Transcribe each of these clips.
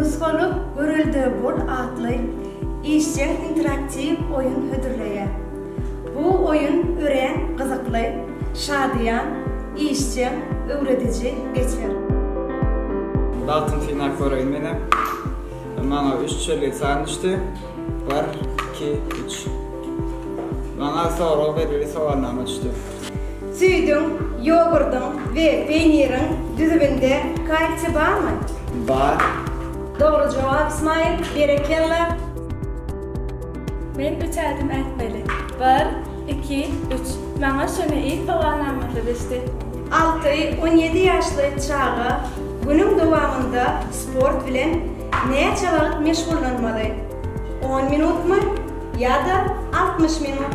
Nusgalyk Görelde bol atly işjeň interaktiw oýun hödürleýär. Bu oýun örän gyzykly, şadyýan, işjeň, öwrediji geçer. Datyn synap göreýin menem. Maňa üç çelik san düşdi. Bir, iki, üç. Maňa sorag belgili sowalnama düşdi. Süýdüň, ýogurdyň we peýniriň düzüminde kalsiý barmy? Bar. Dogry jogap Ismail, berekella! Men üç ädim ätmeli. Bir, iki, üç. Maňa şuny iýip sowalamazlyk etdi. Alty, on ýedi ýaşly çaga günüň dowamynda sport bilen näçe wagt meşgullanmaly? On minutmy ýa-da altmyş minut?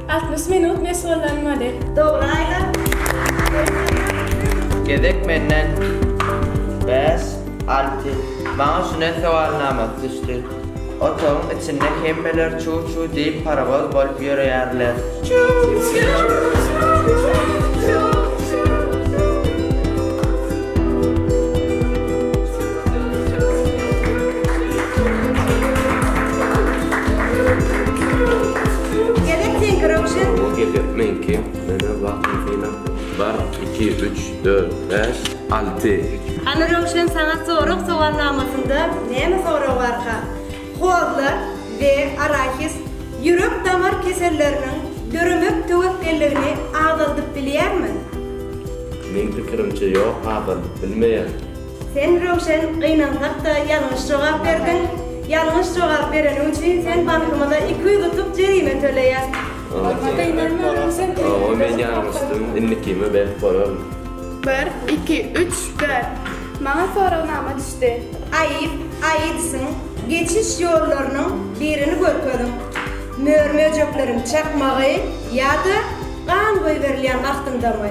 Altmyş minut mesh bollan model. Dogry aýlan Dogry. Gezek menden bäş alty maňa şune sowalnamasy düşdi otagyň içinde hemmeler çu çu diýip parowoz bolup ýöreýärler çu çu. Hany Röwşen saňa sorag sowalnamasynda näme sorag barka? Kozla we arahis ýürek damar keselleriniň döremek töwekgelligini azaldyp bilýärmi? Meň pikirimçe ýok azaldyp bilmeýär. Sen Röwşen gynansakda ýalňyş jogap berdiň. Ýalňyş jogap bereniň üçin sen bankymyza iki ýüz utuk jerime töleýäs. Bolmasa gynanma Röwşen Owo men ýalňyşdym indikime berip bolaryn. Bir, iki, üç, dört. Maňa soragnama düşdi. Aýyp, aýypsyň, geçiş ýollarynyň birini görkeziň. Mör-möjekleriň çakmagy ýa-da gan goýberilýän wagtyndamy?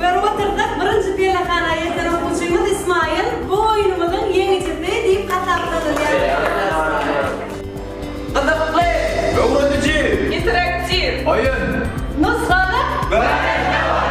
Görüp otyrdyk, birinji pellehana ýeten okuwçymyz Ismaýyl bu oýnumyzyň ýeňijisi diýip hasaplanylýar. Gyzykly, öwrediji, interaktiw oýun. Nusgalyk görelde boluň!